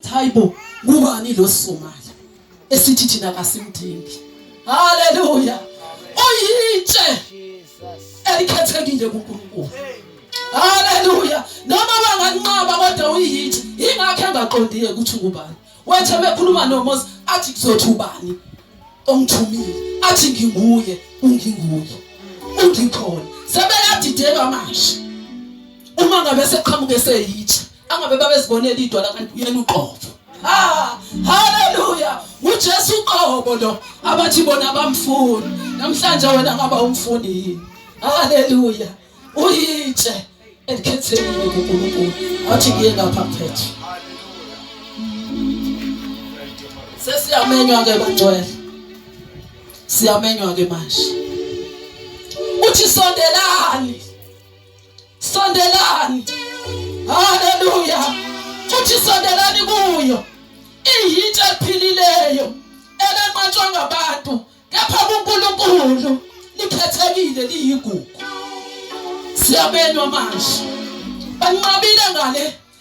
Hayibo, kubani lo Somali esithi thina kasimdingi? Haleluya. Oyitshe elikhethekile kuNkulunkulu. Haleluya. Noma banganqaba kodwa uyitshe. Ingakho engaqondile ukuthi ubani. Wethe mekhuluma noMoses athi kuzothi ubani ongithumile. Athi nginguye, unginguye. Ungikhona. Sebeyadideka manje. Uma ngabe seqhamuke seyitshe angabe babezibonela idwala kanti uyena uqotho ha haleluya uJesu uqobo lo abathi bona bamfuni namhlanje wena ngaba umfundi yini haleluya uyitshe elikhethekile kuNkulunkulu athi kuye ngapha mphethe sesiyamenywa ke bangcwele siyamenywa ke manje uthi sondelani Sondelani. Haleluya. Futhi sondelani kuyo. Iyinto ephilileyo elenqatshwa ngabantu kepha kuNkulunkulu likhethekile liyigugu. Siyabelwa manje. Banqabile ngale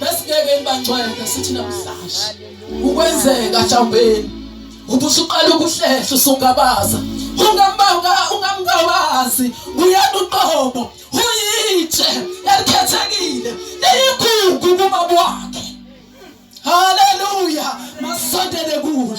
besingeke nibangcwele sithi namhlanje ukwenzeka jambeni ukuthi usuqala ukuhlehla usungabaza ungambanga ungamngabazi uyena uqobo uyitshe elikhethekile liyigugu kumabwakhe haleluya masondele kulo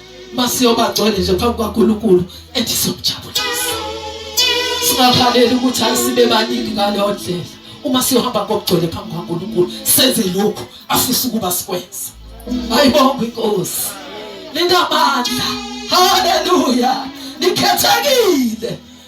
masiyobagcwele nje phambi kwaNkulunkulu ethi somjabulisa singakhaleli ukuthi ayisibe baningi ngaleyo ndlela uma siyohamba ngokugcwele phambi kwaNkulunkulu senze lokhu afisa ukuba sikwenze ayibonga inkosi linamandla haleluya nikhethekile